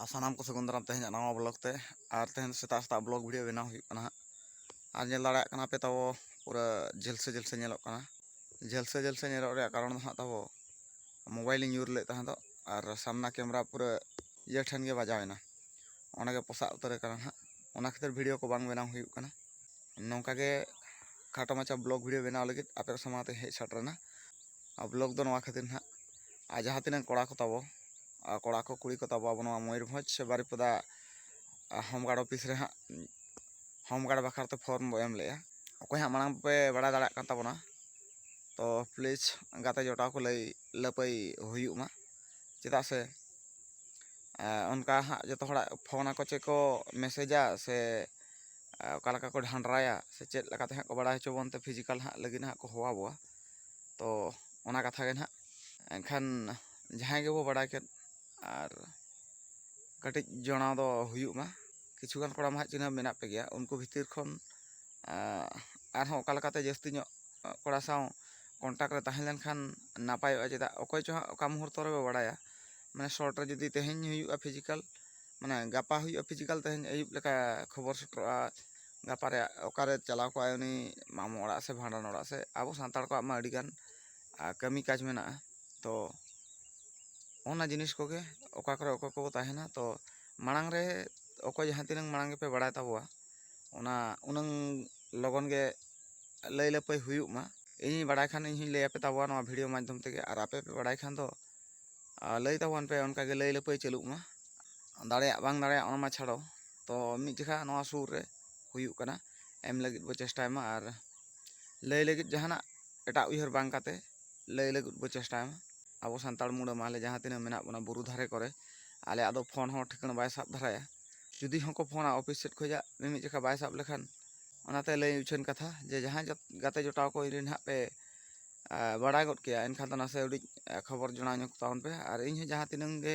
ᱟᱨ ᱥᱟᱱᱟᱢ ᱠᱚ ᱥᱟᱹᱜᱩᱱ ᱫᱟᱨᱟᱢ ᱛᱮᱦᱮᱧᱟᱜ ᱱᱟᱣᱟ ᱵᱞᱚᱜ ᱛᱮ ᱟᱨ ᱛᱮᱦᱮᱧ ᱥᱮᱛᱟᱜ ᱥᱮᱛᱟᱜ ᱵᱞᱚᱜ ᱵᱷᱤᱰᱤᱭᱳ ᱵᱮᱱᱟᱣ ᱦᱩᱭᱩᱜ ᱠᱟᱱᱟ ᱦᱟᱸᱜ ᱟᱨ ᱧᱮᱞ ᱫᱟᱲᱮᱭᱟᱜ ᱠᱟᱱᱟ ᱯᱮ ᱛᱟᱵᱚ ᱯᱩᱨᱟᱹ ᱡᱷᱟᱹᱞ ᱥᱮ ᱡᱷᱟᱹᱞ ᱥᱮ ᱧᱮᱞᱚᱜ ᱠᱟᱱᱟ ᱡᱷᱟᱹᱞ ᱥᱮ ᱡᱷᱟᱹᱞ ᱥᱮ ᱧᱮᱞᱚᱜ ᱨᱮᱭᱟᱜ ᱠᱟᱨᱚᱱ ᱫᱚ ᱦᱟᱸᱜ ᱛᱟᱵᱚ ᱢᱳᱵᱟᱭᱤᱞᱤᱧ ᱧᱩᱨ ᱞᱮᱫ ᱛᱟᱦᱮᱸ ᱫᱚ ᱟᱨ ᱥᱟᱢᱱᱟ ᱠᱮᱢᱮᱨᱟ ᱯᱩᱨᱟᱹ ᱤᱭᱟᱹ ᱴᱷᱮᱱ ᱜᱮ ᱵᱟᱡᱟᱣ ᱮᱱᱟ ᱚᱸᱰᱮ ᱜᱮ ᱯᱚᱥᱟᱜ ᱩᱛᱟᱹᱨ ᱟᱠᱟᱱᱟ ᱦᱟᱸᱜ ᱚᱱᱟ ᱠᱷᱟᱹᱛᱤᱨ ᱵᱷᱤᱰᱤᱭᱳ ᱠᱚ ᱵᱟᱝ ᱵᱮᱱᱟᱣ ᱦᱩᱭᱩᱜ ᱠᱟᱱᱟ ᱱᱚᱝᱠᱟ ᱜᱮ ᱠᱷᱟᱴᱚ ᱢᱟᱪᱷᱟ ᱵᱞᱚᱜ ᱵᱷᱤᱰᱤᱭᱳ ᱵᱮᱱᱟᱣ ᱞᱟᱹᱜᱤᱫ ᱟᱯᱮ ᱠᱚ ᱥᱟᱢᱟᱝ ᱛᱮ ᱦᱮᱡ ᱥᱮᱴᱮᱨ ᱮᱱᱟ ᱟᱨ ᱵᱞᱚᱜ ᱫᱚ ᱱᱚᱣᱟ ᱠᱷᱟᱹᱛᱤᱨ ᱦᱟᱸᱜ ᱟᱨ ᱡᱟᱦᱟᱸ ᱛᱤᱱᱟᱹᱜ ᱠᱚᱲᱟ ᱠᱚ ᱛᱟᱵᱚ ᱠᱚᱲᱟ ᱠᱚ ᱠᱩᱲᱤ ᱠᱚ ᱛᱟᱵᱚ ᱟᱵᱚ ᱱᱚᱣᱟ ᱢᱚᱭᱩᱨᱵᱷᱚᱸᱡᱽ ᱥᱮ ᱵᱟᱨᱤᱯᱟᱫᱟ ᱦᱳᱢ ᱜᱟᱨᱰ ᱚᱯᱷᱤᱥ ᱨᱮ ᱦᱟᱸᱜ ᱦᱳᱢ ᱜᱟᱨᱰ ᱵᱟᱠᱷᱨᱟ ᱛᱮ ᱯᱷᱚᱨᱢ ᱵᱚᱱ ᱮᱢ ᱞᱮᱫᱼᱟ ᱚᱠᱚᱭ ᱦᱟᱸᱜ ᱢᱟᱲᱟᱝ ᱯᱮ ᱵᱟᱲᱟᱭ ᱫᱟᱲᱮᱭᱟᱜ ᱠᱟᱱ ᱛᱟᱵᱚᱱᱟ ᱛᱚ ᱯᱞᱤᱡᱽ ᱜᱟᱛᱮ ᱡᱚᱴᱟᱣ ᱠᱚ ᱞᱟᱹᱭ ᱞᱟᱹᱯᱟᱹᱭ ᱦᱩᱭᱩᱜ ᱢᱟ ᱪᱮᱫᱟᱜ ᱥᱮ ᱚᱱᱠᱟ ᱦᱟᱸᱜ ᱡᱚᱛᱚ ᱦᱚᱲᱟᱜ ᱯᱷᱳᱱ ᱟᱠᱚ ᱪᱮᱫ ᱠᱚ ᱢᱮᱥᱮᱡᱟ ᱥᱮ ᱚᱠᱟ ᱞᱮᱠᱟ ᱠᱚ ᱰᱷᱟᱰᱨᱟᱭᱟ ᱥᱮ ᱪᱮᱫ ᱞᱮᱠᱟᱛᱮ ᱦᱟᱸᱜ ᱠᱚ ᱵᱟᱲᱟᱭ ᱦᱚᱪᱚ ᱵᱚᱱᱛᱮ ᱯᱷᱤᱡᱤᱠᱮᱞ ᱦᱟᱸᱜ ᱞᱟᱹᱜᱤᱫ ᱦᱟᱸᱜ ᱠᱚ ᱦᱚᱦᱚ ᱟᱵᱚᱣᱟ ᱛᱚ ᱚᱱᱟ ᱠᱟᱛᱷᱟ ᱜᱮ ᱱᱟᱦᱟᱜ ᱮᱱᱠᱷᱟᱱ ᱡᱟᱦᱟᱸᱭ ᱜᱮᱵᱚ ᱵᱟᱲᱟᱭ ᱠᱮᱫ ᱟᱨ ᱠᱟᱹᱴᱤᱡ ᱡᱚᱱᱟᱣ ᱫᱚ ᱦᱩᱭᱩᱜ ᱢᱟ ᱠᱤᱪᱷᱩ ᱜᱟᱱ ᱠᱚᱲᱟ ᱢᱟ ᱦᱟᱸᱜ ᱪᱤᱱᱦᱟᱹᱯ ᱢᱮᱱᱟᱜ ᱯᱮ ᱜᱮᱭᱟ ᱩᱱᱠᱩ ᱵᱷᱤᱛᱤᱨ ᱠᱷᱚᱱ ᱟᱨᱦᱚᱸ ᱚᱠᱟ ᱞᱮᱠᱟᱛᱮ ᱡᱟᱹᱥᱛᱤ ᱧᱚᱜ ᱠᱚᱲᱟ ᱥᱟᱶ ᱠᱚᱱᱴᱟᱠᱴ ᱨᱮ ᱛᱟᱦᱮᱸ ᱞᱮᱱᱠᱷᱟᱱ ᱱᱟᱯᱟᱭᱚᱜᱼᱟ ᱪᱮᱫᱟᱜ ᱚᱠᱚᱭ ᱪᱚ ᱦᱟᱸᱜ ᱚᱠᱟ ᱢᱩᱦᱩᱨᱛᱚ ᱨᱮᱵᱚ ᱵᱟᱲᱟᱭᱟ ᱢᱟᱱᱮ ᱥᱚᱨᱴ ᱨᱮ ᱡᱩᱫᱤ ᱛᱮᱦᱮᱧ ᱦᱩᱭᱩᱜᱼᱟ ᱯᱷᱤᱡᱤᱠᱮᱞ ᱢᱟᱱᱮ ᱜᱟᱯᱟ ᱦᱩᱭᱩᱜᱼᱟ ᱯᱷᱤᱡᱤᱠᱮᱞ ᱛᱮᱦᱮᱧ ᱟᱹᱭᱩᱵ ᱞᱮᱠᱟ ᱠᱷᱚᱵᱚᱨ ᱥᱮᱴᱮᱨᱚᱜᱼᱟ ᱜᱟᱯᱟ ᱨᱮᱭᱟᱜ ᱚᱠᱟᱨᱮ ᱪᱟᱞᱟᱣ ᱠᱚᱜ ᱟᱭ ᱩᱱᱤ ᱢᱟᱢᱚ ᱚᱲᱟᱜ ᱥᱮ ᱵᱷᱟᱸᱰᱟᱱ ᱚᱲᱟᱜ ᱥᱮᱫ ᱟᱵᱚ ᱥᱟᱱᱛᱟᱲ ᱠᱚᱣᱟᱜ ᱢᱟ ᱟᱹᱰᱤᱜᱟᱱ ᱠᱟᱹᱢᱤ ᱠᱟᱡᱽ ᱢᱮᱱᱟᱜᱼᱟ ᱛᱚ ᱚᱱᱟ ᱡᱤᱱᱤᱥ ᱠᱚᱜᱮ ᱚᱠᱟ ᱠᱚᱨᱮ ᱚᱠᱚᱭ ᱠᱚᱠᱚ ᱛᱟᱦᱮᱱᱟ ᱛᱚ ᱢᱟᱲᱟᱝ ᱨᱮ ᱚᱠᱚᱭ ᱡᱟᱦᱟᱸ ᱛᱤᱱᱟᱹᱝ ᱢᱟᱲᱟᱝ ᱜᱮᱯᱮ ᱵᱟᱲᱟᱭ ᱛᱟᱵᱚᱣᱟ ᱚᱱᱟ ᱩᱱᱟᱹᱝ ᱞᱚᱜᱚᱱ ᱜᱮ ᱞᱟᱹᱭ ᱞᱟᱹᱯᱟᱹᱭ ᱦᱩᱭᱩᱜ ᱢᱟ ᱤᱧᱤᱧ ᱵᱟᱲᱟᱭ ᱠᱷᱟᱱ ᱤᱧ ᱦᱚᱸᱧ ᱞᱟᱹᱭ ᱟᱯᱮ ᱛᱟᱵᱚᱣᱟ ᱱᱚᱣᱟ ᱵᱷᱤᱰᱤᱭᱳ ᱢᱟᱫᱽᱫᱷᱚᱢ ᱛᱮᱜᱮ ᱟᱨ ᱟᱯᱮ ᱯᱮ ᱵᱟᱲᱟᱭ ᱠᱷᱟᱱ ᱫᱚ ᱞᱟᱹᱭ ᱛᱟᱵᱚᱱ ᱯᱮ ᱚᱱᱠᱟᱜᱮ ᱞᱟᱹᱭ ᱞᱟᱹᱯᱟᱹᱭ ᱪᱟᱹᱞᱩᱜ ᱢᱟ ᱫᱟᱲᱮᱭᱟᱜ ᱵᱟᱝ ᱫᱟᱲᱮᱭᱟᱜ ᱚᱱᱟ ᱢᱟ ᱪᱷᱟᱲᱚ ᱛᱚ ᱢᱤᱫ ᱡᱚᱠᱷᱟ ᱱᱚᱣᱟ ᱥᱩᱨ ᱨᱮ ᱦᱩᱭᱩᱜ ᱠᱟᱱᱟ ᱮᱢ ᱞᱟᱹᱜᱤᱫ ᱵᱚ ᱪᱮᱥᱴᱟᱭ ᱢᱟ ᱟᱨ ᱞᱟᱹᱭ ᱞᱟᱹᱜᱤᱫ ᱡᱟᱦᱟᱱᱟᱜ ᱮᱴᱟᱜ ᱩᱭᱦᱟᱹᱨ ᱵᱟᱝ ᱠᱟᱛᱮ ᱞᱟᱹᱭ ᱞᱟᱹᱜᱤᱫ ᱵᱚ ᱪᱮᱥᱴᱟᱭ ᱢᱟ ᱟᱵᱚ ᱥᱟᱱᱛᱟᱲ ᱢᱩᱬᱟᱹ ᱢᱟ ᱟᱞᱮ ᱡᱟᱦᱟᱸ ᱛᱤᱱᱟᱹᱜ ᱢᱮᱱᱟᱜ ᱵᱚᱱᱟ ᱵᱩᱨᱩ ᱫᱷᱟᱨᱮ ᱠᱚᱨᱮ ᱟᱞᱮᱭᱟᱜ ᱫᱚ ᱯᱷᱳᱱ ᱦᱚᱸ ᱴᱷᱤᱠᱟᱹᱱ ᱵᱟᱭ ᱥᱟᱵ ᱫᱷᱟᱨᱟᱭᱟ ᱡᱩᱫᱤ ᱦᱚᱸᱠᱚ ᱯᱷᱳᱱᱟ ᱚᱯᱷᱤᱥ ᱥᱮᱫ ᱠᱷᱚᱱᱟᱜ ᱢᱤᱢᱤᱫ ᱡᱚᱠᱷᱟ ᱵᱟᱭ ᱥᱟᱵ ᱞᱮᱠᱷᱟᱱ ᱚᱱᱟᱛᱮ ᱞᱟᱹᱭ ᱩᱪᱷᱟᱹᱱ ᱠᱟᱛᱷᱟ ᱡᱮ ᱡᱟᱦᱟᱸᱭ ᱜᱟᱛᱮ ᱡᱚᱴᱟᱣ ᱠᱚ ᱡᱩᱫᱤ ᱱᱟᱦᱟᱜ ᱯᱮ ᱵᱟᱲᱟᱭ ᱜᱚᱫ ᱠᱮᱭᱟ ᱮᱱᱠᱷᱟᱱ ᱫᱚ ᱱᱟᱥᱮ ᱩᱰᱤᱡ ᱠᱷᱚᱵᱚᱨ ᱡᱚᱱᱟᱣ ᱧᱚᱜᱽ ᱛᱟᱵᱚᱱ ᱯᱮ ᱟᱨ ᱤᱧ ᱦᱚᱸ ᱡᱟᱦᱟᱸ ᱛᱤᱱᱟᱹᱝ ᱜᱮ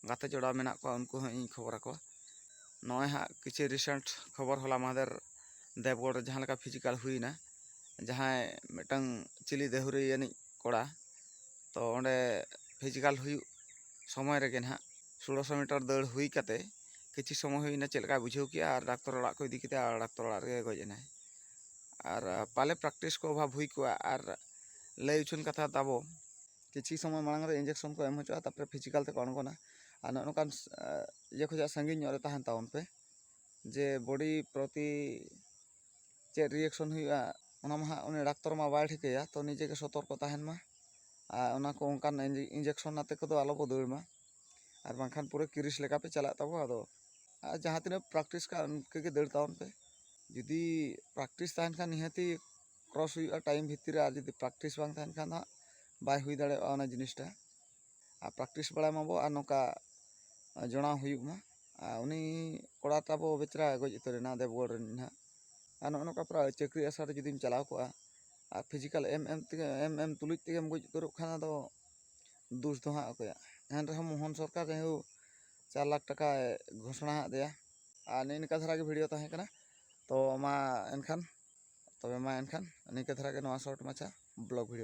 ᱜᱟᱛᱮ ᱡᱚᱲᱟᱣ ᱢᱮᱱᱟᱜ ᱠᱚᱣᱟ ᱩᱱᱠᱩ ᱦᱚᱸ ᱤᱧ ᱠᱷᱚᱵᱚᱨ ᱟᱠᱚᱣᱟ ᱱᱚᱜᱼᱚᱭ ᱦᱟᱸᱜ ᱠᱤᱪᱷᱩ ᱨᱤᱥᱮᱱᱴ ᱠᱷᱚᱵᱚᱨ ᱦᱚᱞᱟ ᱢᱟᱦᱫᱮᱨ ᱫᱮᱵᱽᱜᱚᱲ ᱨᱮ ᱡᱟᱦᱟᱸ ᱞᱮᱠᱟ ᱯᱷᱤᱡᱤᱠᱟᱞ ᱦᱩᱭᱱᱟ ᱡᱟᱦᱟᱸᱭ ᱢᱤᱫᱴᱟᱝ ᱪᱤᱞᱤ ᱫᱟᱹᱦᱩᱨᱤᱭᱟᱹ ᱟᱹᱱᱤᱡ ᱠᱚᱲᱟ ᱛᱚ ᱚᱸᱰᱮ ᱯᱷᱤᱡᱤᱠᱟᱞ ᱦᱩᱭᱩᱜ ᱥᱚᱢᱚᱭ ᱨᱮᱜᱮ ᱦᱟᱸᱜ ᱥᱳᱞᱳᱥᱚ ᱢᱤᱴᱟᱨ ᱫᱟᱹᱲ ᱦᱩᱭ ᱠᱟᱛᱮ ᱠᱤᱪᱷᱩ ᱥᱚᱢᱚᱭ ᱦᱩᱭᱱᱟ ᱪᱮᱫ ᱞᱮᱠᱟᱭ ᱵᱩᱡᱷᱟᱹᱣ ᱠᱮᱜᱼᱟ ᱟᱨ ᱰᱟᱠᱛᱚᱨ ᱚᱲᱟᱜ ᱠᱚ ᱤᱫᱤ ᱠᱮᱫᱮᱭᱟ ᱟᱨ ᱰᱟᱠᱛᱚᱨ ᱚᱲᱟᱜ ᱨᱮᱜᱮ ᱜᱚᱡ ᱮᱱᱟᱭ ᱟᱨ ᱯᱟᱞᱮ ᱯᱨᱮᱠᱴᱤᱥ ᱠᱚ ᱚᱵᱷᱟᱵᱽ ᱦᱩᱭ ᱠᱚᱜᱼᱟ ᱟᱨ ᱞᱟᱹᱭ ᱦᱚᱪᱚᱱ ᱠᱟᱛᱷᱟ ᱛᱟᱵᱚ ᱠᱤᱪᱷᱩ ᱥᱚᱢᱚᱭ ᱢᱟᱲᱟᱝ ᱨᱮ ᱤᱱᱡᱮᱠᱥᱚᱱ ᱠᱚ ᱮᱢ ᱦᱚᱪᱚᱜᱼᱟ ᱛᱟᱨᱯᱚᱨᱮ ᱯᱷᱤᱡᱤᱠᱮᱞ ᱛᱮᱠᱚ ᱟᱬᱜᱚᱱᱟ ᱟᱨ ᱱᱚᱜᱼᱚ ᱱᱚᱝᱠᱟᱱ ᱤᱭᱟᱹ ᱠᱷᱚᱱᱟᱜ ᱥᱟᱺᱜᱤᱧ ᱧᱚᱜ ᱨᱮ ᱛᱟᱦᱮᱱ ᱛᱟᱵᱚᱱ ᱯᱮ ᱡᱮ ᱵᱚᱰᱤ ᱯᱨᱚᱛᱤ ᱪᱮᱫ ᱨᱤᱭᱮᱠᱥᱚᱱ ᱦᱩᱭᱩᱜᱼᱟ ᱚᱱᱟ ᱢᱟ ᱦᱟᱸᱜ ᱩᱱᱤ ᱰᱟᱠᱛᱚᱨ ᱢᱟ ᱵᱟᱭ ᱴᱷᱤᱠᱟᱹᱭᱟ ᱛᱳ ᱱᱤᱡᱮ ᱜᱮ ᱥᱚᱛᱚᱨᱠᱚ ᱛᱟᱦᱮᱱ ᱢᱟ ᱟᱨ ᱚᱱᱟ ᱠᱚ ᱚᱱᱠᱟᱱ ᱤᱱᱡᱮᱠᱥᱚᱱ ᱟᱛᱮᱫ ᱠᱚᱫᱚ ᱟᱞᱚ ᱵᱚ ᱫᱟᱹᱲ ᱢᱟ ᱟᱨ ᱵᱟᱝᱠᱷᱟᱱ ᱯᱩᱨᱟᱹ ᱠᱨᱤᱥ ᱞᱮᱠᱟ ᱯᱮ ᱪᱟᱞᱟᱜ ᱛᱟᱵᱚ ᱟᱫᱚ ᱟᱨ ᱡᱟᱦᱟᱸ ᱛᱤᱱᱟᱹᱜ ᱯᱨᱮᱠᱴᱤᱥ ᱠᱟᱜᱼᱟ ᱤᱱᱠᱟᱹ ᱜᱮ ᱫᱟᱹᱲ ᱛᱟᱵᱚᱱ ᱯᱮ ᱡᱩᱫᱤ ᱯᱨᱮᱠᱴᱤᱥ ᱛᱟᱦᱮᱱ ᱠᱷᱟᱱ ᱱᱤᱦᱟᱹᱛᱤ ᱠᱨᱚᱥ ᱦᱩᱭᱩᱜᱼᱟ ᱴᱟᱭᱤᱢ ᱵᱷᱤᱛᱤᱨ ᱨᱮ ᱟᱨ ᱡᱩᱫᱤ ᱯᱨᱮᱠᱴᱤᱥ ᱵᱟᱝ ᱛᱟᱦᱮᱱ ᱠᱷᱟᱱ ᱫᱚ ᱦᱟᱸᱜ ᱵᱟᱭ ᱦᱩᱭ ᱫᱟᱲᱮᱭᱟᱜᱼᱟ ᱚᱱᱟ ᱡᱤᱱᱤᱥᱴᱟ ᱟᱨ ᱯᱨᱮᱠᱴᱤᱥ ᱵᱟᱲᱟᱭ ᱢᱟᱵᱚ ᱟᱨ ᱱᱚᱝᱠᱟ ᱡᱚᱲᱟᱣ ᱦᱩᱭᱩᱜ ᱢᱟ ᱟᱨ ᱩᱱᱤ ᱠᱚᱲᱟ ᱛᱟᱵᱚ ᱵᱮᱪᱟᱨᱟ ᱜᱚᱡ ᱩᱛᱟᱹᱨ ᱮᱱᱟ ᱫᱮᱣᱜᱚᱲ ᱨᱮᱱ ᱦᱟᱸᱜ ᱟᱨ ᱱᱚᱜᱼᱚ ᱱᱚᱝᱠᱟ ᱯᱨᱟᱭ ᱪᱟᱹᱠᱨᱤ ᱟᱥᱲᱟ ᱨᱮ ᱡᱩᱫᱤᱢ ᱪᱟᱞᱟᱣ ᱠᱚᱜᱼᱟ ᱟᱨ ᱯᱷᱤᱡᱤᱠᱮᱞ ᱮᱢ ᱮᱢ ᱛᱮᱜᱮ ᱮᱢ ᱮᱢ ᱛᱩᱞᱩᱡ ᱛᱮᱜᱮᱢ ᱜᱚᱡ ᱩᱛᱟᱹᱨᱚᱜ ᱠᱷᱟᱱ ᱟᱫᱚ ᱫᱳᱥ ᱫᱚ ᱦᱟᱸᱜ ᱚᱠᱚᱭᱟᱜ ᱮᱱ ᱨᱮᱦᱚᱸ ᱢᱳᱦᱚᱱ ᱥᱚᱨᱠᱟᱨ ᱡᱟᱭᱦᱳᱠ ᱪᱟᱨ ᱞᱟᱠᱷ ᱴᱟᱠᱟᱭ ᱜᱷᱳᱥᱚᱱᱟ ᱟᱫ ᱞᱮᱭᱟ ᱟᱨ ᱱᱤᱭᱟᱹ ᱱᱤᱝᱠᱟ ᱫᱷᱟᱨᱟ ᱜᱮ ᱵᱷᱤᱰᱤᱭᱳ ᱛᱟᱦᱮᱸ ᱠᱟᱱᱟ ᱛᱚ ᱢᱟ ᱮᱱᱠᱷᱟᱱ ᱛᱚᱵᱮ ᱢᱟ ᱮᱱᱠᱷᱟᱱ ᱱᱤᱝᱠᱟᱹ ᱫᱷᱟᱨᱟ ᱜᱮ ᱱᱚᱣᱟ ᱥᱚᱨᱴ ᱢᱟᱪᱷᱟ ᱵᱞᱚᱜᱽ ᱵᱷᱤᱰᱤᱭᱳ